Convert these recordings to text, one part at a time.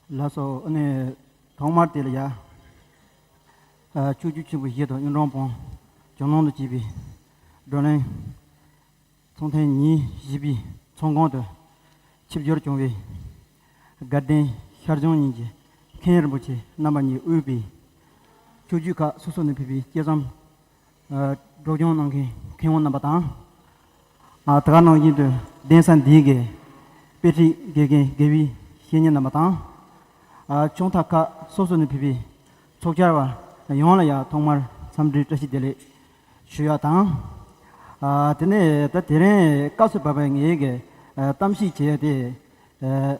ལགས་སོ། ཐོག་མར་དེ་ལ་ཡ། ཕྱོགས་བཅུ་ཆེན་པོའི་གཞི་དང་གཡུང་དྲུང་བོན། ཇོ་ནང་དུ་སྐྱེས་པའི་བགྲོ་གླེང། ཚོང་ཐེངས་ཉིན་བཞི་པའི་ཚོང་ཁང་དུ། ཆིབས་བསྒྱུར་བྱུང་བའི་དགའ་ལྡན་ཤར་བྱང་གཉིས་ཀྱི་མཁན་རིན་པོ་ཆེ་རྣམ་པ་གཉིས་དབུས་པའི། ཆོས་བརྒྱུད་ཁག་སོ་སོ་ནས་ཕེབས་པའི་སྐྱེས་ཚོམས། སྒྲོག་སྦྱོང་གནང་མཁན་མཁས་དབང་རྣམ་པ་དང། དེ་ག་ནང་བཞིན་དུ་གདན་ས་འདིའི་དགེ་དཔེ་ཁྲིད་དགེ་རྒན་དགེ་བའི་བཤེས་གཉེན་རྣམ་པ་དང། ཆུང་མཐའ་ཁག་སོ་སོ་ནས་ཕེབས་པའི་ཚོགས་བཅར་བ་ཡོངས་ལ་ཡང་ཐོག་མར་འཚམས་འདྲིའི་བཀྲ་ཤིས་བདེ་ལེགས་ཞུ་ཡ་དང། དེ་ནས་ད་དེ་རིང་བཀའ་སྲོལ་བབས་པའི་ངེད་གིས་གཏམ་ཞིག་བྱེད་ཡ་དེ།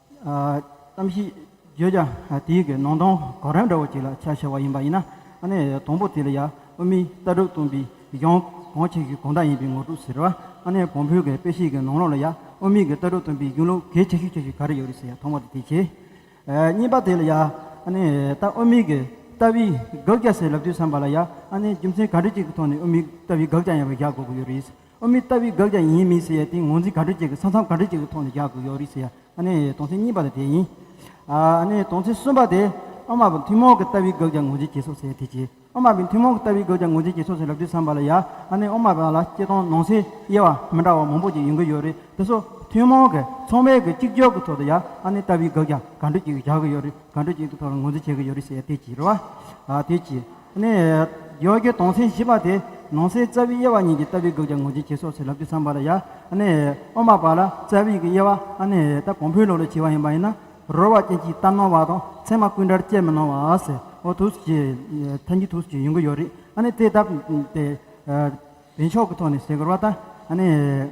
གཏམ་ཞིག་བརྗོད་ཀྱང་དེའི་གི་ནང་དོན་གོ་རིམ་འདྲ་བོ་ཅིག་ལ་ཆ་ཕྱེ་བ་ཡིན་པ་ཡིན་ན་ནི་དང་པོ་དེ་ལ་ཡ་ཨུ་མི་ལྟ་གྲུབ་སྟོན་པའི་གཞུང་གང་ཆེ་ཤོས་གང་དག་ཡིན་པའི་ངོ་སྤྲོད་ཟེར་བ་ནི་བོང་བུའི་གི་དཔེ་བཤད་གི་ནང་ལོགས་ལ་ཡ་ཨུ་མི་གི་ལྟ་གྲུབ་སྟོན་པའི་གཞུང་ལུགས་གལ་ཆེ་ཤོས་ཆེ་ཤོས་ག་རེ་ཡོད་རེད་ཟེར་ཡ་ཐོག་མར་དུ་དེ་བྱས། གཉིས་པ་དེ་ལ་ཡ་ནི་ལྟ་ཨུ་མི་གི་ལྟ་བའི་དགག་བྱ་ཟེར་ལབ་དུས་བསམ་པ་ལ་ཡ་ནི་རྒྱུ་མཚན་ག་འདྲ་ཅིག་གི་ཐོག་ནས་ཨུ་མི་ལྟ་བའི་དགག་བྱ་ཡིན་པ་བཞག་དགོས་ཀྱི་ཡོད་རེད། ཨོ་མི་ལྟ་བུའི་དགག་བྱ་ཡིན་མིན་ཟེར་ཡ་དེ་ངོས་འཛིན་ག་དྲོད་ཅིག་གི་ས་མཚམས་ག་དྲོད་ཅིག་གི་ཐོག་ནས་རྒྱག་དགོས་ཡོད་རེད་ཟེར་ཡ་ཨ་ནི་དོང་ཚན་གཉིས་པ་དེ་དེ་ཡིན། ཨ་ནི་དོང་ཚན་གསུམ་པ་དེ་ཨོ་མ་བི་ཐུན་མོང་གི་ལྟ་བུའི་དགག་བྱ་ངོས་འཛིན་བྱེད་སོགས་ཟེར་ཡ་དེ་བྱེད་ཨོ་མ་བི་ཐུན་མོང་གི་ལྟ་བུའི་དགག་བྱ་ངོས་འཛིན་བྱེད་སོགས་ཟེར་ལབ་དུས་བསམ་པ་ལ་ཡ་ཨ་ནི་ཨོ་མ་བི་ལ་སྐྱེ་སྟོང་ནང་སའི་དབྱེ་བ་མི་འདྲ་བ་མང་པོ་ཅིག་ཡོང་གི་ཡོད་རེད་དེ་སོགས་ཐུན་མོང་གི་ཚོང་བས་གི་གཅིག་གྱོར་གི་ཐོག་ཏུ་ཡ་ཨ་ནི་ལྟ་བུའི་དགག་བྱ་ག་དྲོད་ཅིག་རྒྱག་གི་ཡོད་རེད་ག་དྲོད་ཅིག་གི་ཐོག་ལ་ངོས་འཛིན་བྱེད་གི་ཡོད་རེད་ཟེར་ཡ་དེ་བྱེད་རེད་བ། དེ་བྱེད། ནས། ཡོ་གའི་དོང་སེང་བཞི་པ་དེ། ནང་སེང་རྩ་བའི་དབྱེ་བ་གཉིས་ཀྱི་ལྟ་བའི་སྒོས་ཀྱང་ངོས་འཛིན་བྱེད་སོགས་ཚུལ་ལབ་རྒྱུ་བསམ་པར་ཡ། ནས། དབུ་མ་པ་ལ་རྩ་བའི་ཡིག་གི་དབྱེ་བ། ནས། ད་གོང་འཕེལ་ལོག་ལས་བྱེད་པ་ཡིན་པ་ཡིན་ན། རོལ་བ་ཅན་གྱིས་གཏམ་ནོར་བ་དང་ཚད་མ་ཀུན་འདྲར་དཔྱད་མི་གནང་བ། ཨོ་ཐུགས་རྗེ། ཐལ་འགྱུར་ཐུགས་སུ་ཡོང་གི་ཡོད་རེད། ནས་དེ་ལྟ་བུའི། བདེ་མཆོག་གི་ཐོག་ནས་ཟེར་དགོས་པ་ལྟར། ནས།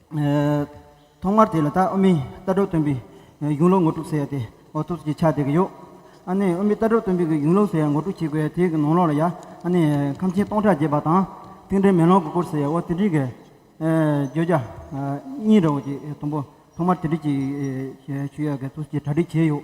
ཐོག་མར་དེ་ལ་ད་ཨོ་མི་རྟ་གྲོགས་སྟོན་པའི་གཞུང་ལུགས་ངོ་སྤྲོད་ཟེར་ཡ་དེ་ཨོ་ཐུགས་ཀྱི་ཆ་དེ་གི་ཡོད། ཨ་ནི་ཨོ་མི་རྟ་གྲོགས་སྟོན་པའི་གི་གཞུང་ལུགས་ཟེར་ཡ་ངོ་སྤྲོད་བྱེད་དགོས་ཡ་དེ་གི་ནང་ལོགས་ལ་ཡ་ཨ་ནི་ཁམས་ཆེན་སྟོང་ཕྲག་བརྒྱད་པ་དང་ཏིང་འབྲེལ་མེ་ལོང་གི་སྐོར་ཟེར་ཡ་ཨོ་དེ་འདྲིའི་གི་བརྗོད་བྱ་གཉིས་རེད་བོ་དེ་དང་པོ་ཐོག་མར་དེ་འདྲིས་ཀྱི་ཞུ་ཡ་གི་ཐུགས་ཀྱི་གྲ་སྒྲིག་བྱས་ཡོད།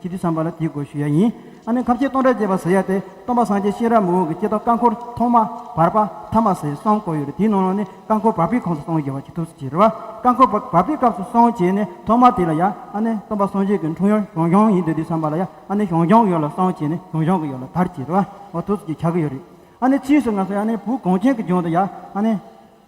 ཅི་སྟེ་བསམ་པ་ལ་དེའི་སྒོ་ཞུ་ཡ་ཡིན། ཨ་ནི་ཁ་བྱེ་སྟོང་ཕྲག་བརྒྱད་པ་ཟེར་ཡ་སྟེ་སྟོང་པ་སངས་རྒྱས་གཤེན་རབ་མི་འོང་གི་སྐྱེ་རྟགས་བཀའ་འཁོར་ཐོག་མ། བར་པ། ཐ་མ་ཟེར་གསུམ་བཀོད་ཡོད་རེད་དེའི་ནང་ལ་ནི་བཀའ་འཁོར་བར་པའི་ཁོངས་སུ་སྟོང་བརྒྱད་པ་ཅིག་ཐུགས་སུ་ཆེ་རེད་བ། བཀའ་འཁོར་བར་པའི་སྐབས་སུ་སོང་བྱས་ནས་ཐོག་མ་དེ་ལ་ཡ་ཨ་ནི་སྟོང་པ་སངས་རྒྱས་ཀྱི་འཁྲུངས་ཡོར་ཞོང་ཞོང་ཡིན་འདོད་དུས་བསམ་པ་ལ་ཡ་ཨ་ནི་ཞོང་ཞོང་གི་ཡོ་ལ་སོང་བྱས་ནས་ཞོང་ཞོང་གི་ཡོ་ལ་དར་ཅེས་རེད་བ། འོ་ཐུགས་སུ་ཆེ་ཆགས་ཀྱི་ཡོད་རེད། ཨ་ནི་ཕྱིས་སུ་ང་སོང་ཡ་ཨ་ནི་བུ་གངས་ཅན་གྱི་ལྗོངས་དུ་ཡ་ཨ་ནི།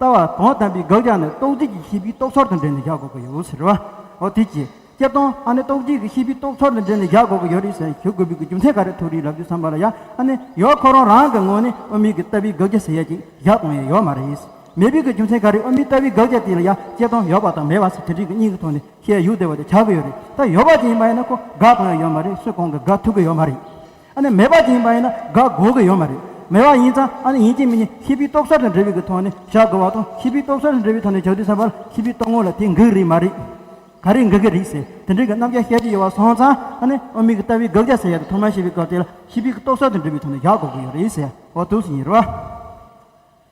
ལྟ་བ་དོན་དམ་པའི་དགག་བྱ་ནི་རྟོག་སྒྲིག་གི་ཤེས་པའི་རྟོག་ཚོར་དང་འབྲེལ་ནས་བཞག་དགོས་ཀྱི་ཡོད་ཟེར། འོ་དེ་ཅི། ཀྱེ་སྟོང་ཨ་ནི་རྟོག་སྒྲིག་གི་ཤེས་པའི་རྟོག་ཚོར་དང་འབྲེལ་ནས་བཞག་དགོས་ཀྱི་ཡོད་རེད་ཟེར་ནས་ཞུ་དགོས་པའི་རྒྱུ་མཚན་ག་རེ་ཐུག་རེད་ལབ་རྒྱུ་བསམ་པ་ལ་ཡ་ཨ་ནི་ཡོད་ཁོ་རང་རང་གི་ངོས་ནས་དབུ་མེད་ཀྱི་ལྟ་བའི་དགག་བྱ་ཟེར་ཡ་ཅིག་བཞག་གཏོང་ཡས་ཡོད་མ་རེད། མེད་པའི་གི་རྒྱུ་མཚན་ག་རེ་དབུ་མེད་ལྟ་བའི་དགག་བྱ་དེ་ལ་ཡ་ཀྱེ་སྟོང་ཡོད་པ་དང་མེད་པ་ཟེར་དེ་རིགས་ཀྱི་གཉིས་ཀྱི་ཐོག་ནས་ཤེས་ཡུལ་བདེ་བ་དེ་ཆགས་ཀྱི་ཡོད་རེད་ད་ཡོད་པ་ཅན་ཡིན་པ་ཡིན་ན་ཁོ་དགག་གཏོང་ཡས་ཡོད་མ་རེད་སུས་གང་གིས་དགག་ཐུབ་ཀྱི་ཡོད་མ་རེད། ཨ་ནི་མེད་པ་ཅན་ཡིན་པ་ཡིན་ན་དགག་དགོས་ཀྱི་ཡོད་མ་རེད། མེད་པ་ཡིན་ཙང་ཨ་ནི་ཡིན་གྱི་མིན་གྱི་ཤེས་པའི་རྟོག་བསལ་དང་འབྲེལ་བའི་གི་ཐོག་ནས་བཞག་དགོས་བ་དང་ཤེས་པའི་རྟོག་བསལ་དང་འབྲེལ་བའི་ཐོག་ནས་བཞག་དུས་ས་པར་ཤེས་པའི་རྟོག་ངོ་ལ་དེ་འགག་རིགས་མ་རེད། ག་རེ་འགག་གི་རིགས་ཟེར་དེ་འདྲའི་གི་རྣམ་གཞག་བཤད་ཀྱི་ཡོད་བ་སོང་ཙང་ཨ་ནི་དབུ་མའི་གི་ལྟ་བའི་དགག་བྱ་ཟེར་ཡ་དེ་ཐོག་མར་ཤེས་པའི་སྐབས་དེ་ལ་ཤེས་པའི་གི་རྟོག་བསལ་དང་འབྲེལ་བའི་ཐོག་ནས་བཞག་དགོས་ཀྱི་ཡོད་རེད་ཟེར་བ་དུས་སུ་ཡིན་རུང།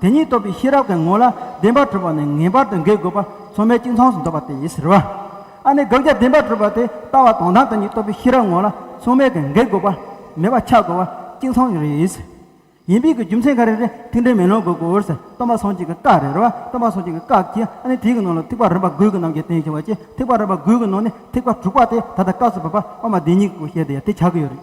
དེ་ཉིད་རྟོགས་པའི་ཤེས་རབ་ཀྱི་ངོ་ལ་བདེན་པར་གྲུབ་པ་ནི་ངེས་པར་དུ་འགེལ་དགོས་པ་མཚོ་མའི་སྤྱི་མཚངས་སུ་འདོད་པ་དེ་ཡིན་ཟེར། བ་ཨ་ནི་དགག་བྱ་བདེན་པར་གྲུབ་པ་དེ་ལྟ་བ་དོན་དམ་དེ་ཉིད་རྟོགས་པའི་ཤེས་རབ་ངོ་ལ་མཚོ་མའི་གི་འགེལ་དགོས་པ་མེད་པ་འཆགས་དགོས་པ་སྤྱི་མཚངས་རེ་ཡིན། ཡིན་པའི་གི་རྒྱུ་མཚན་ག་རེ་རེ་ཐིག་འགྲེལ་མེ་ལོང་དགོས་དགོས་ཟེར་སྟོན་པ་སངས་རྒྱས་ཀྱི་བཀའ་རེ་རེ་བ་སྟོན་པ་སངས་རྒྱས་ཀྱི་བཀའ་གྱིས་ཨ་ནི་དེའི་གི་ནང་ལ་ཐིག་པ་རིམ་པ་དགུའི་གི་རྣམས་ཀྱི་རྟེན་ཞེས་བ་ཅི་ཐིག་པ་རིམ་པ་དགུའི་གི་ནང་ནས་ཐིག་པ་དྲུག་པ་དེ་ད་ལྟ་བཀའ་སུ་བབ་པ་དབུ་མ་བདེན་གཉིས་ཀྱི་སྐུ་བཤད་དེ་ཡང་དེ་ཆགས་ཀྱི་ཡོད་རེད།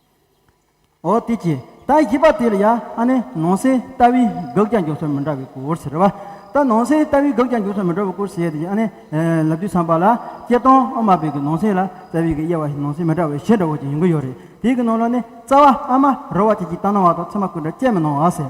འོ་དེ་ཅི། ད་ཡིག་པ་དེ་ལ་ཡ་ཨ་ནི་ནང་སའི་ལྟ་བའི་དགག་རྒྱ་འཇོག་སར་མི་འདྲ་བའི་སྐོར་ཟེར་བ། ད་ནང་སའི་ལྟ་བའི་དགག་རྒྱ་འཇོག་སར་མི་འདྲ་བའི་སྐོར་ཟེར་ཡ་དེ་ཨ་ནི། ལབ་དུས་ཚངས་པ་ལ་སྐྱེ་སྟོང་ཨ་མ་བེ་གི་ནང་སའི་ལ་རྩ་བའི་གི་དབྱེ་བ་ནང་སའི་མི་འདྲ་བའི་གཞི་འདྲ་བོ་ཅིག་ཡོང་གི་ཡོད་རེད་དེ་གི་ནང་ལ་ནི་རྩ་བ་ཨ་མ་རོ་བ་ཅིག་ཅིག་བཏང་སྣང་བ་དང་ཚེར་མ་ཀུན་འདྲ་སྐྱེས་མི་སྣང་བ་ཟེར།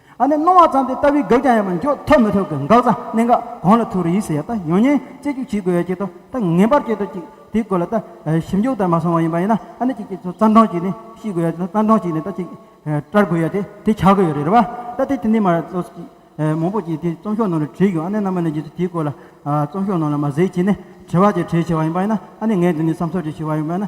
ཨ་ནི་སྣང་བ་ཙམ་དེ་ལྟ་བུའི་འགགས་ཀྱང་ཡང་མི་འཇོག་ཐོབ་མི་ཐོབ་ཀྱི་འགགས་རྩ་གནད་འགག་གང་ལ་ཐུག་རེ་ཡིད་སེ་ཡ་ད་ཡོང་ཉེན་རྩད་གཅོད་བྱེད་དགོས་ཡ་ཅེས་ཏོ་ད་ངེས་པར་བྱེད་དོ་ཅིག་དེའི་སྐོར་ལ་ད་ཞིབ་འཇུག་དར་མ་སོང་བ་ཡིན་པ་ཡིན་ན་ཨ་ནི་ཅིག་ཅིག་ཚོ་རྩ་འདྲོངས་བྱེད་ནི་ཤེས་དགོས་ཡ་ད་རྩ་འདྲོངས་བྱེད་ནི་ད་ཅིག་བཀྲར་དགོས་ཡ་དེ་དེ་བྱ་དགོས་ཡོད་རེད་རེད་བ་ད་དེ་དེ་འདི་མ་རེད་ཚོ་ཅིག་མང་པོ་ཅིག་དེ་རྩོམ་ཤོག་ནང་ལ་བྲིས་ཡོད་ཨ་ནི་ནམ་མ་ནས་རྗེས་སུ་དེའི་སྐོར་ལ་རྩོམ་ཤོག་ནང་ལ་མ་གཟིགས་བྱས་ནི་བྲེལ་བ་ཅིག་བྲེལ་ཆེ་བ་ཡིན་པ་ཡིན་ན་ཨ་ནི་ངས་འདི་ནས་བསམ་ཚོད་ཅིག་བྱས་བ་ཡིན་པ་ཡིན་ན།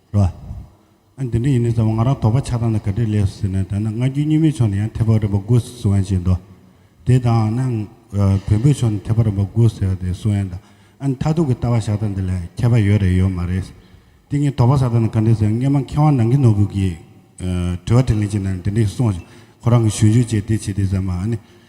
རེད། ཨ། འདི་འདྲ་ཡིན་ནའི་ཙང་བ་ང་རང་དོགས་པ་ཆགས་སྟངས་ལ་ག་འདྲས་ལེགས་སོ་ཟེར་ན་ད་ནི་སྔ་འགྱུར་རྙིང་མའི་ཕྱོགས་ནས་ཡང་ཐེག་པ་རིམ་པ་དགུ་ཟེར་སུའང་བྱེད་འདོད། དེ་དང་ན་བོན་པོའི་ཕྱོགས་ནས་ཐེག་པ་རིམ་པ་དགུ་ཟེར་བ་དེ་སུའང་ཡང་འདོད། ཨ་ནི་མཐའ་ཐུག་གི་ལྟ་བ་བཞག་སྟངས་འདི་ལ་ཁྱད་པ་ཡོད་རེད་ཡོད་མ་རེད། དེ་ངས་དོགས་པ་ཟ་སྟངས་འདི་ག་འདྲས་ཟེར་ན་སྔན་མ་མཁས་དབང་ནང་གི་ནོར་བུ་གིས་དྲི་བ་དྲིས་ལན་བྱེད་སྟངས་འདི་འདྲས་གསུངས། ཁོ་རང་གི་གཞུང་ཞུ་བྱས་དེ་བྱས་དེ་ཟེར་མ་ཨ་ནི།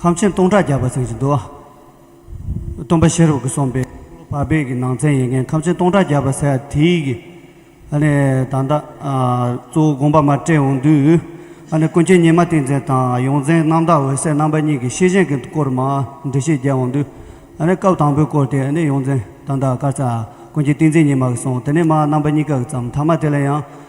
ཁམས་ཆེན་སྟོང་ཕྲག་བརྒྱ་པ་ཚན་གྱི་མདོ། སྟོན་པ་ཤེས་རབ་ཀྱི་གསུང་པའི། བར་བརྒལ་གྱི་ནང་ཚན་ཡེ་མཁན་ཁམས་ཆེན་སྟོང་ཕྲག་བརྒྱ་པ་ཟེར་བ་དེའི་གི། ཨ་ནི་ད་ལྟ། གཙོ་བོ་དགོངས་པ་མ་སྤྲད་འོང་དུས། ཨ་ནི་ཀུན་མཁྱེན་ཉི་མ་ཏིང་འཛིན་དང་ཡོངས་འཛིན་རྣམ་དག་འོད་གསལ་རྣམ་པ་གཉིས་ཀྱི་ཤེས་བཞིན་གྱི་སྐོར་མ་འབྲི་བཤད་རྒྱ་འོང་དུས། ཨ་ནི་སྐབས་དང་པོའི་སྐོར་དེ་ནི་ཡོངས་འཛིན་ད་ལྟ་དཀར་ཚ། ཀུན་མཁྱེན་ཏིང་འཛིན་ཉི་མ་གྱིས་གསུངས་དེ་ནི་མ་རྣམ་པ་གཉིས་ཀ་གི་ཙམ་མཐའ་མ་དེ་ལ་ཡང།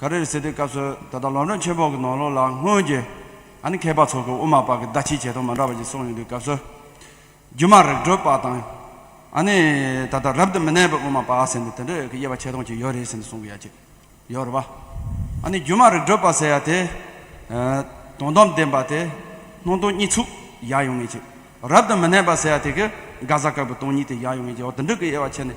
ག་རེར་ཟེར་དུས་སྐབས་སུ་ད་ལྟ་ལོ་འབྲོང་ཆེན་པོ་གི་ནང་ལོགས་ལ་སྔོན་གྱི་ཨ་ནེ་མཁས་པ་ཚོ་གི་དབུ་མ་པ་གི་བརྡ་ཕྱིའི་བྱེད་སྟངས་མ་འདྲ་བ་ཞིག་སོང་ཡོད་དུས་སྐབས་སུ་སྒྱུ་མ་རིག་གྲོལ་པ་དང་ཨ་ནེ་ད་ལྟ་རབ་ཏུ་མི་གནས་པའི་དབུ་མ་པ་ཟེར་ནས་དེ་འདྲའི་གི་དབྱེ་བ་ཕྱེ་སྟངས་ཅིག་ཡོད་རེད་ཟེར་ནས་གསུང་གི་ཡ་ཅིག་ཡོད་རེད་བ། ཨ་ནེ་སྒྱུ་མ་རིག་གྲོལ་པ་ཟེར་ཡ་དེ་དོན་དམ་བདེན་པ་དེ་སྣང་སྟོང་གཉིས་ཚུགས་ཡག་ཡོང་ངེས་ཅིག་རབ་ཏུ་མི་གནས་པ་ཟེར་ཡ་དེ་གི་དགའ་ས་དཀར་པོའི་སྟོང་ཉིད་དེ་ཡག་ཡོང་ངེས་ཅིག་འོ་དེ་འདྲའི་གི་དབྱེ་བ་ཕྱེ་ནས།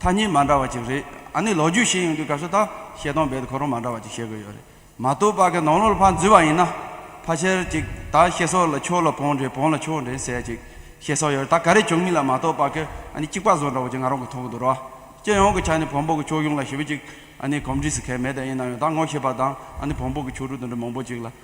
ཐ་སྙད་མ་འདྲ་བ་ཅིག་རེད་ཨ་ནི་ལོ་རྒྱུས་ཤེས་ཡོང་དུས་སྐབས་སུ་དང་བཤད་སྟངས་རྦད་དུ་གོ་རུང་མ་འདྲ་བ་ཅིག་བཤད་དགོས་ཡོད་རེད་མ་གཏོགས་པ་གི་ནང་ལོག་ལ་ཕར་འཛུལ་བ་ཡིན་ན་ཕ་ཆེར་ཅིག་ད་ཤེས་སོགས་ལ་ཁྱོ་ལ་བོང་འདྲེ་བོང་ལ་ཁྱོ་འདྲེ་ཟེར་ཅིག་བཤད་སོགས་ཡོད་རེད་ད་ག་རེ་བྱུང་མིན་ལ་མ་གཏོགས་པ་གི་ཨ་ནི་གཅིག་པ་བཟོ་འདྲ་བ་ཅིག་ང་རང་གི་མཐོང་གི་འདུག་ར་བ་སྤྱི་ཡོངས་ཀྱི་ཆ་ནས་བོང་བུ་གི་ཁྱོ་གཞུང་ལ་ཞིབ་ཅིག་ཨ་ནི་གོམས་འདྲིས་སུ་གལ་མེད་ད་ཡིན་ན་ཡང་ད་ངོ་ཤེས་པ་དང་ཨ་ནི་བོང་བུ་གི་ཁྱོ་ཕྲུག་དེ་འདྲ་མང་པོ་ཅིག་ལ་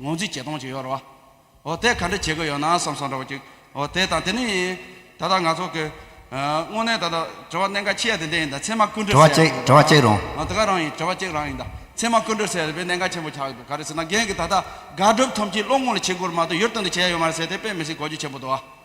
ངོ་རྩིས་བྱེད་སྟངས་ཅིག་ཡོད་རེད་བ། འོ་དེ་ག་འདྲ་བྱེད་དགོས་ཡོད་ན་བསམ་སོང་འདྲ་བོ་ཅིག་འོ་དེ་དང་དེ་ནི་ཡིན། ད་ལྟ་ང་ཚོ་གི། དངོས་གནས་ད་ལྟ་དྲི་བ་གནད་འགག་ཆེ་ཡ་དེ་འདྲ་ཡིན་ད་ཚད་མ་ཀུན་དྲི་བ་བཤད་གཅིག་དྲི་བ་གཅིག་རུང། ཨ་དེ་ག་རང་ཡིན་དྲི་བ་གཅིག་རང་ཡིན་ད་ཚད་མ་ཀུན་དྲི་བཤད་དེ་གནད་འགག་ཆེན་པོ་ཆགས་ཀྱི་འདུག་ག་རེ་ཟེར་ན་རྒན་གྱི་ད་ལྟ་དགག་སྒྲུབ་ཐོམ་གཅིག་བློ་ངོ་ལ་འཆི་འགོར་མ་གཏོགས་ཡུལ་སྟོན་དུ་བྱས་ཡོད་མ་རེད་ཟེར་དེ་དཔེ་མི་སྲིད་གོ་རྒྱུ་ཆེན་པོ་འདུག་བ།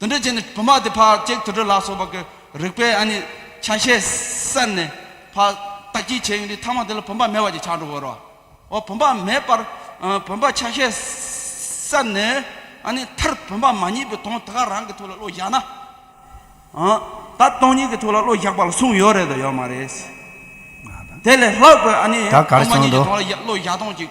དུད་འགྲོའི་རྗེས་ནས་བུ་མ་དེ་ཕར་བཅད་དུད་འགྲོ་ལ་སོགས་པ་གི་རིགས་པས་ཨ་ནི་ཆ་ཤས་གསེར་ནས་ཕར་བཏགས་ཀྱིས་བྱས་ཡོང་དུས་ཐ་མ་དེ་ལ་བུམ་པ་མེད་པ་ཅིག་ཆགས་འགྲོ་བོ་རོ། འོ་བུམ་པ་མེད་པར་བུམ་པ་ཆ་ཤས་གསེར་ནས་ཨ་ནི་མཐར་བུམ་པ་མ་རྙེད་པའི་དོན་དེ་ག་རང་གི་ཐུགས་ལ་བློ་བཞག་ན། ད་སྟོང་ཉིད་ཀྱི་ཐུགས་ལ་བློ་བཞག་པ་ལ་གསུངས་ཡོད་རེད་དོ་ཡོད་མ་རེད། དེ་ལས་ལྷག་པའི་ཨ་ནི་སྟོང་མ་ཉིད་ཀྱི་དོན་ལ་བློ་བཞག་སྟོང་ཅིག།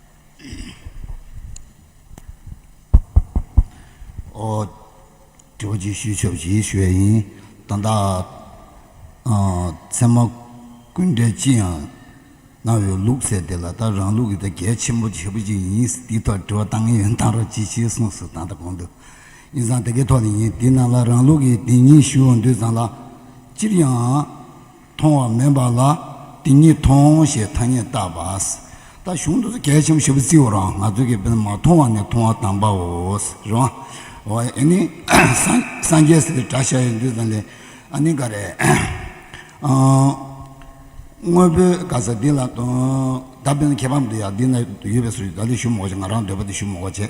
གྲོགས་ཀྱིས་ཤུལ་ཆོག་བཞེས་ཞུ་བ་ཡིན། ད་ལྟ། ཚད་མ་ཀུན་བཀྲས་ཅི་ཡང་གནང་བའི་ལུགས་གསལ་དེ་ལ་ད་རང་ལུགས་ཀྱི་ད་གལ་ཆེན་པོ་ཆེ་པོ་ཅིག་ཡིན། དེའི་ཐོག་དྲི་བ་གཏང་ངེས་ཡོན་ཐང་རོགས་ཅི་བྱས་གསུངས་སོ་ད་ལྟ་གོང་དུ། ཡིན་ཙང་དེ་གའི་ཐོག་ནས་ཡིན་དེའི་ནང་ལ་རང་ལུགས་ཀྱི་དེ་ཉིད་ཞུ་འོང་དུས་ཙང་ལ། སྤྱིར་ཡང། མཐོང་བ་མིན་པ་ལ་དེ་ཉིད་མཐོང་ཞེས་ཐ་སྙད་བཏགས་པ། ད་གཞུང་དུ་གལ་ཆེན་པོ་ཞིབ་བརྩི་བར་ང་ཚོས་ཀྱི་བོད་མི་མ་མཐོང་བ་ནི་མཐོང་བ་དམ་པའོ། རེད་མ་ཨེ། སངས་རྒྱས་སིདྡྷི་བྲ་ཤྲཱི་ཡི་འདུས་ཙམ་ལས་ཨ་ནི་ག་རེད། དངོས་པོའི་ག་ས་འདི་ལ་ད་བོད་ནི་ཁྱད་པར་མི་འདུག་ཡ་འདི་ན་ཡོད་པའི་སུ་ཞིག་ད་ལོ་ཞུ་མོག་བྱེད་ང་རང་འདོད་པ་དེ་ཞུ་མོག་བྱེད།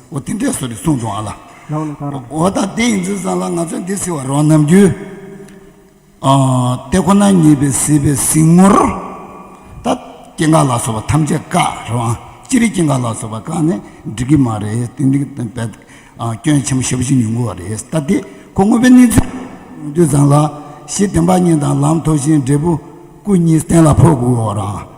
འོ་དེ་འདྲས་སོ་རེ་གསུངས་འདུག་ཨ་ལ། རང་ལ་དགའ་རོགས། འོ་ད་དེ་ཡིན་ཚུལ་ཙང་ལ་ང་ཚོས་འདི་བསྲི་བར་རོགས་གནང་རྒྱུ། ཨ། དེ་ཁོ་ན་ཉིད་པའི་བསྲིས་པའི་གཟིགས་ངོར། ད། སྐྱེ་འགག་ལ་སོགས་པ་ཐམས་ཅད་བཀག་རེད་བ། ཅི་རིགས་སྐྱེ་འགག་ལ་སོགས་པ་བཀག་ནས་འགྲིག་གི་མ་རེད་དེ་འདི་གི་དོན་བས། སྐྱོན་ཆེན་པོ་ཞེ་བོ་ཅིག་ཉུང་གི་བ་རེད་ད་དེ་ཁོ་དངོས་པོའི་གནས་ཚུལ་ཡོང་དུས་ཙང་ལ། གཞི་བདེན་པ་གཉིས་དང་ལམ་མཐོ་ཞིང་འབྲས་བུ་སྐུ་གཉིས་གཏན་ལ་ཕོག་དགོས་བ་རང།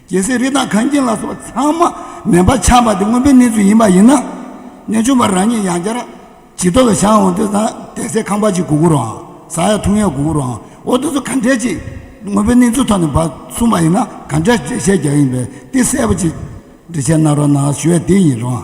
རྒྱལ་སྲས་རི་དྭགས་གངས་རྒྱན་ལ་སོགས་ཚང་མ་མེ་འབར་ཆགས་འབར་དེ་མངོན་པའི་གནས་ཚུལ་ཡིན་པ་ཡིན་ན། གནས་ཆུང་བ་རང་ཉིད་ཡང་བསྐྱར་ཇི་ལྟ་བའི་ཞག་འོང་དུས་ན་བདེ་གསལ་ཁང་པ་ཅིག་གུ་གུ་རུའང་ཟ་ཡ་འཐུང་ཡ་གུ་གུ་རུའང་འོ་དེ་ཚོ་ག་འདྲས་ཅིག་མངོན་པའི་གནས་ཚུལ་ཐོག་ནས་འབའ་གསུངས་པ་ཡིན་ན་ག་འདྲས་འགྲེལ་བཤད་རྒྱག་ཡིན་པའི་ཏི་གསལ་པོ་ཅིག་འགྲེལ་བཤད་གནང་རོགས་གནང་ཞུ་ཡ་དེ་ཡིན་རུང།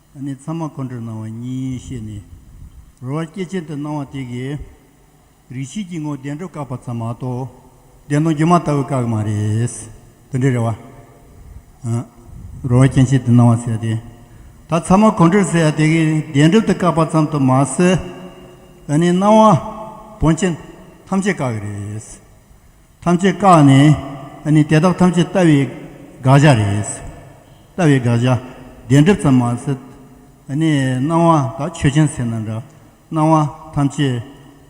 ཨ་ནི་ཚང་མ་ཁོང་ཁྲོས་སྣང་བ་གཉིས་ཡིན་ཤེས་ནས། རོ་བར་སྐྱེས་ཆེན་དུ་སྣང་བ་དེ་གའི། རིག་བྱེད་ཀྱི་ངོ་བདེན་སྒྲོ་བཀག་པ་ཙམ་མ་གཏོགས། བདེན་སྟོང་སྒྱུ་མ་ལྟ་བུ་བཀག་གི་མ་རེད། དོན་འདི་རེད་བ། རོ་བར་སྐྱེས་ཆེན་དུ་སྣང་བ་ཟེར་ཡ་དེ། ད་ཚང་མ་ཁོང་ཁྲོས་ཟེར་ཡ་དེ་གའི་བདེན་སྒྲུབ་ཏུ་བཀག་པ་ཙམ་དུ་མ་ཟད། ཨ་ནི་སྣང་བ། བོན་ཆེན། ཐམས་ཅད་བཀག་གི་རེད། ཐམས་ཅད་བཀག་ནས་ཨ་ནི་དེ་དག་ཐམས་ཅད་ལྟ་བའི་དགག་བྱ་རེད། ལྟ་བའི་དགག་བྱ་བདེན་གྲུབ་ཙམ་མ་ཟད་ཨ་ནི་སྣང་བ་དག་ཆོས་ཅན་ཟེར་ན་འདྲ། སྣང་བ་ཐམས་ཅད་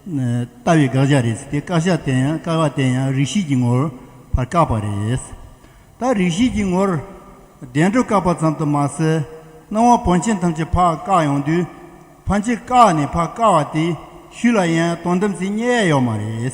ལྟ་བའི་དགག་བྱ་རེད། དེ་བཀག་བྱ་བསྟན་ཡང་བཀག་བ་བསྟན་ཡང་རིག་བྱེད་ཀྱི་ངོར་བར་བཀག་པ་རེད། ད་རིག་བྱེད་ཀྱི་ངོར་བདེན་གྲུབ་བཀག་པ་ཙམ་དུ་མ་ཟད་སྣང་བ་བོན་ཆེན་ཐམས་ཅད་བར་བཀག་ཡོང་དུས་ཕ་མཆིས་བཀག་ནས་བར་བཀག་བ་དེ་ཤུལ་ལ་ཡང་སྟོང་གཏམ་ཟེར་སྙད་ཡ་ཡོད་མ་རེད།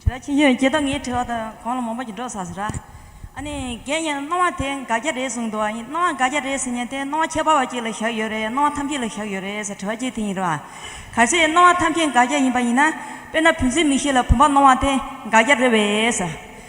དྲི་བ། ཁྱེད་ཀྱིས་སྐྱེ་སྟོབས་ངའི་དྲི་བ་དང་གོང་ལ་མོ་པ་ཀྱི་འགྲོ་ས་ཟེར། ཨ་ནི་རྒན་ཡིན་ན་སྣང་བ་དེ་འགའ་རྒྱ་རེད་གསུངས་འདུག་ཡིན་སྣང་བ་འགའ་རྒྱ་རེད་ཟེར་ཉིན་དེ་སྣང་བ་ཁྱད་པར་བ་གཅིག་ལ་བཞག་ཡོད་རེད་སྣང་བ་ཐམས་ཅད་ལ་བཞག་ཡོད་རེད་ཟེར་དྲི་བ་གཅིག་དེ་ཡིན་རེད། གལ་སྲིད་སྣང་བ་ཐམས་ཅད་འགའ་རྒྱ་ཡིན་པ་ཡིན་ན་དཔེར་ན་བུན་ཚིགས་མིག་ཤེས་ལ་བུམ་པ་སྣང་བ་དེ་འགའ་རྒྱ་རེད་བས།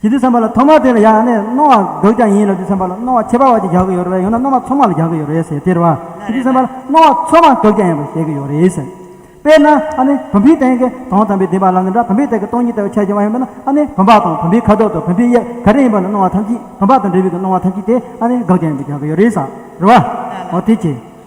ཇི་སྟེ་ཚངས་པ་ལ་ཐོག་མར་དེ་ལ་ཡང་ནི་སྣང་བ་འདུག་ཀྱང་ཡིན་ལ་དེ་ཚངས་པ་ལ་སྣང་བ་ཁྱད་པར་བ་ཅིག་རྒྱག་གི་ཡོད་རེད་ཡང་ན་སྣང་བ་མཚུངས་མ་ལ་རྒྱག་གི་ཡོད་རེད་ཟེར་དེར་བ་ཇི་སྟེ་ཚངས་པ་ལ་སྣང་བ་མཚུངས་མ་འདུག་ཀྱང་ཡིན་པར་བཤད་ཀྱི་ཡོད་རེད་ཟེར། དཔེར་ན་ཨ་ནི་བུམ་པའི་སྟེང་གི་དོང་དམ་པའི་སྡིག་པ་ལ་ནི་འདྲ་བུམ་པའི་སྟེང་གི་སྟོང་ཉིད་ལྟ་བུའི་ཆ་ཅན་བ་ཡིན་པས་ན་ཨ་ནི་བུམ་པ་དང་བུམ་པའི་ཁ་དོག་དང་བུམ་པའི་དབྱིབས་ག་རེ་ཡིན་པ་ལ་སྣང་བ་ཐམས་ཅད་བུམ་པ་དང་འབྲེལ་བའི་སྣང་བ་ཐམས་ཅད་དེ་ཨ་ནི་འགག་ཀྱང་ཡིན་པར་རྒྱག་གི་ཡོད་རེད་ཟེར་བ། འོ་དེ་ཅི།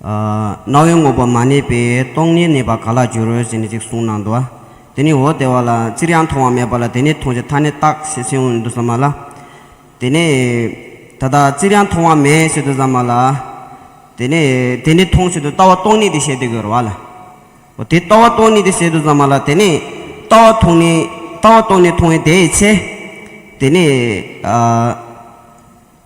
རྣ་བའི་དངོས་པོ་མ་གནས་པས་སྟོང་ཉིད་གནས་པར་ག་ལ་འགྱུར་ཟེར་ནས་ཅིག་གསུངས་ན་འདུག་ཨ། དེ་ནས་འོ་དེ་བ་ལ་ཅིར་ཡང་མཐོང་བ་མེད་པ་ལ་དེ་ནས་མཐོང་བྱའི་མཐའ་ནི་རྟགས་ཞེས་ཟེར་འོང་དུ་བསམ་མ་ལ། དེ་ནས། ད་ལྟ་ཅིར་ཡང་མཐོང་བ་མེད་ཞེས་དུ་བསམ་མ་ལ། དེ་ནས་དེ་ནི་མཐོང་བྱེད་དུ་ལྟ་བ་སྟོང་ཉིད་དེ་བྱེད་དུ་གྱུར་བ་ལ། འོ་དེ་ལྟ་བ་སྟོང་ཉིད་དེ་བྱེད་དུ་བསམ་མ་ལ་དེ་ནས། ལྟ་བ་མཐོང་ནི། ལྟ་བ་སྟོང་ནི་མཐོང་བའི་དེའི་ཆེ། དེ་ནས།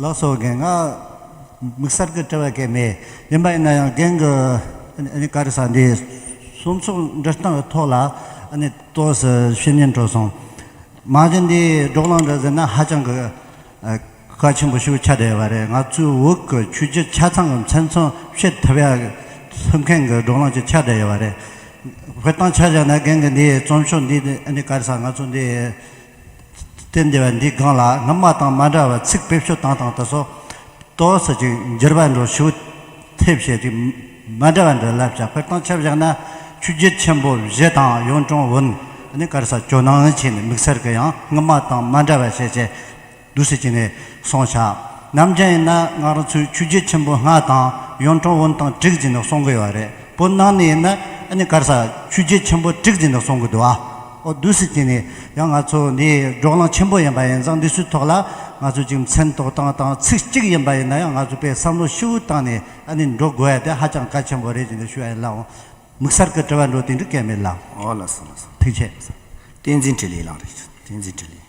ལ་སོགས་རྒན་ང། དམིགས་བསལ་གྱི་དྲི་བ་སྐད་མེད་ཡིན་པ་ཡིན་ན་ཡང་རྒན་གྱི་བཀའ་རི་ས་འདི་གསུང་ཚོགས་འདྲི་སྟངས་ཀྱི་ཐོག་ལ་ལྟོས་ཟེར་བཤེས་གཉེན་གྲོགས་སོང། མ་གཞི་འདིའི་སྒྲོག་ལངས་འདྲ་ཟེར་ན་ཧ་ཅང་གི། བཀའ་ཆེན་པོ་ཤུགས་ཆ་དེ་བ་རེད་ང་ཚོའི་འུག་གི་ཆུ་རྒྱུད་ཆ་ཚང་གི་མཚན་མཚོན་བཤད་ཐུབ་ཡག་ཐུབ་མཁན་གི་སྒྲོག་ལངས་ཀྱི་ཆ་དེ་བ་རེད་བོད་དང་ཆ་བཞག་ན་རྒན་གི་འདིའི་རྩོམ་ཤོག་འདི་ནི་ག་རེ་ས་ང་ཚོ་འདིའི་སྟེང་འདི་བ་འདི་སྒང་ལ་སྔ་མ་དང་མ་འདྲ་བ་ཚིག་ཕེབས་ཤོ་དང་དང་དུ་སོ་ཏོ་ཟེར་ཅིག་འགྱུར་བ་འགྲོ་ཞུ་ཐེབས་བཤད་ཅིག་མ་འདྲ་བ་འདི་ལབ་བྱ་བོད་དང་ཆ་བཞག་ན་ཆུ་རྒྱུད་ཆེན་པོ་བཞི་དང་གཡུང་དྲུང་བོན་ནི་ག་རེ་ས་ཇོ་ནང་ཆེན་ནི་དམིགས་བསལ་གི་ཡང་སྔ་མ་དང་མ་འདྲ་བ་བཤད་བྱས་འདུ་ཤེས་བྱས་ནས་སོང་བྱ། ནམ་རྒྱུན་ཡིན་ན་སྔ་རོལ་ཚོས་ཆུ་རྒྱུས་ཆེན་པོ་སྔགས་དང་གཡོན་གྲོག་བོན་དང་དྲུག་བྱས་ནས་སོང་གི་ཡོད་རེད་པོ་གནང་ནས་ཡིན་ན་ཨ་ནི་གར་ས་ཆུ་རྒྱུས་ཆེན་པོ་དྲུག་བྱས་ནས་སོང་གི་འདུག་ཨ་ཨོ་འདུ་ཤེས་བྱས་ནས་ཡང་ང་ཚོ་འདི་འབྲོག་གླང་ཆེན་པོ་ཡིན་པ་ཡིན་ཙང་འདི་ཚོའི་ཐོག་ལ་ང་ཚོས་ཅིག་མཚན་ཐོག་སྟངས་དང་ཚིག་གཅིག་ཡིན་པ་ཡིན་ན་ཡང་ང་ཚོ་པས་བསམ་བློ་ཧྲིལ་བོ་བཏང་ནས་ཨ་ནི་འགྲོ་དགོས་ཡ་དེ་ཧ་ཅང་གལ་ཆེན་པོ་རེད་ཅེས་འདི་ཞུ་ཡ་ཡིན་ལགས་འོང་མིག་གསར་གི་དྲི་བ་འགྲོ་དེ་འདྲི་སྐལ་མེད་ལགས་འོང་ལགས་སོ་ལགས་སོ་ཐུགས་ཆེ། བསྟན་འཛིན་དྲི་ལེགས་ལགས་རེད་བསྟན་འཛིན་དྲི་ལེགས།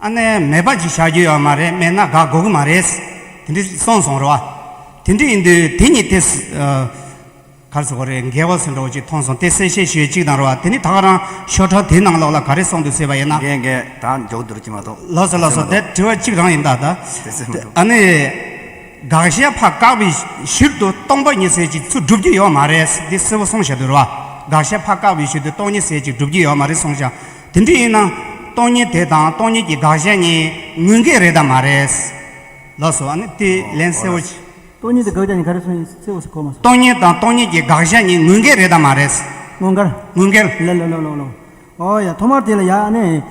ཨ་ནེ་མེད་པ་ཅིག་བྱ་རྒྱུ་ཡོད་མ་རེད་མེད་ན་དགའ་དགོས་ཀྱི་མ་རེད། དེ་འདྲས་སོང་སོང་རེད་བ། དེ་འདྲས་ཡིན་དུས་དེ་གཉིས་དེ། གར་སོང་རེད་འགལ་བ་སོང་འགྲོ་ཅིག་མཐོང་སོང་དེ་གསལ་བཤད་ཞུ་ཡོད་ཅིག་དང་རེད་བ་དེ་ནི་ད་ག་རང་ཤོག་ཁྲ་དེའི་ནང་ལོག་ལ་ག་རེ་སོང་འདུག་ཟེར་བ་ཡིན་ན། འགལ་འགལ་ད་མགྱོགས་འདུར་གྱི་མ་གཏོགས། ལོག་སོང་ལོག་སོང་དེ་དྲི་བ་གཅིག་རང་ཡིན་ད་ད། དེ་ཟེར་མི་འདུག། ཨ་ནེ། དགག་བཤད་ཕ་བཀག་པའི་ཕྱིར་དུ་སྟོང་པ་ཉི་ཟེར་ཅིག་ཚུར་སྒྲུབ་རྒྱུ་ཡོད་མ་རེད་འདི་གསལ་བོ་སོང་བཤད་དུ་རེད་བ། དགག་བཤད་ཕ་བཀག་པའི་ཕྱིར་དུ་སྟོང་ཉི་ཟེར་ཅིག་སྒྲུབ་རྒྱུ་ཡོད་མ་རེད་སོང་བཤད། དེ་འདྲ་ཡིན་ན། སྟོང་ཉིད་དེ་དང་སྟོང་ཉིད་ཀྱི་དགག་གཞན་གཉིས་དངོས་འགལ་རེད་དམ་མ་རེད། ལགས་སོ། ཨ་ནི་དེ་ལན་གསལ་བོ་བྱེད། སྟོང་ཉིད་དེ་དགག་གཞན་གཉིས་ག་རེད་སོང་ཡིན་གསལ་བོ་ཞིག་གོ་མ་སོང། སྟོང་ཉིད་དང་སྟོང་ཉིད་ཀྱི་དགག་གཞན་གཉིས་དངོས་འགལ་རེད་དམ་མ་རེད། དངོས་འགལ། དངོས་འགལ། ལེ་ལོ་ལོ་ལོ་ལོ། ཨོ་ཡ། ཐོག་མར་དེ་ལ་ཡ་ཨ་ནི།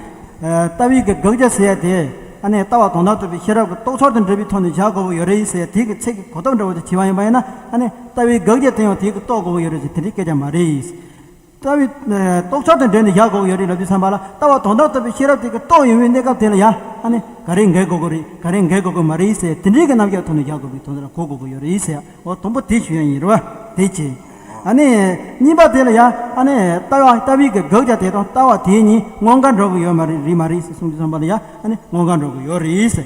ལྟ་བའི་དགག་བྱ་ཟེར་ཡ་དེ། ཨ་ནི་ལྟ་བ་དོན་དག་ཐོབ་པའི་ཤེས་རབ་ཀྱི་རྟོག་ཚོགས་དང་འབྲེལ་བའི་ཐོག་ནས་བྱ་དགོས་པོ་ཡོད་རེད་ཟེར་ཡ་དེ་གི་ཚིག་གི་གོ་སྟོབས་འདྲ་བོ་དེ་བྱེད་པ་ཡིན་པ་ཡིན་ན་ཨ་ནི་ལྟ་བའི་དགག་བྱ་དེ་ཡང་དེ་གི་རྟོགས་དགོས་པོ་ཡོད་རེད་ཟེར་དེ་འདྲའི་སྐད་ཆ་མ་རེད། ལྟ་བའི་རྟོག་འཆར་དང་འབྲེལ་ནས་བཞག་གོ་ཡོད་རེད་ལབ་ཀྱི་བསམ་པ་ལ་ལྟ་བ་དོན་དག་ཐོབ་པའི་ཤེས་རབ་དེ་ག་རྟོགས་ཡོད་མེད་གནས་སྐབས་དེ་ལ་ཡ་ཨ་ནི་ག་རེ་འགལ་གོ་གོ་རེད་ག་རེ་འགལ་གོ་གོ་མ་རེད་ཟེར་དེ་འདྲའི་གི་རྣམ་གཞག་ཐོག་ནས་བཞག་དགོས་པའི་དོན་དག་གོ་གོ་གོ་ཡོད་རེད་ཟེར་ཡ་ཨོ་དང་པོ་དེ་ཞུ་ཡ་ཡིན་རེད་བ་དེ་གཅིག་ཨ་ནི་གཉིས་པ་དེ་ལ་ཡ་ཨ་ནི་ལྟ་བ་ལྟ་བའི་གི་དགག་བྱ་དེ་དང་ལྟ་བ་དེ་གཉིས་དངོས་འགལ་འགྲོ་གི་ཡོད་མ་རེད་རེད་མ་རེད་ཟེར་གསུངས་ཀྱི་བསམ་པ་ལ་ཡ་ཨ་ནི་དངོས་འགལ་འགྲོ་གི་ཡོད་རེད་ཟེར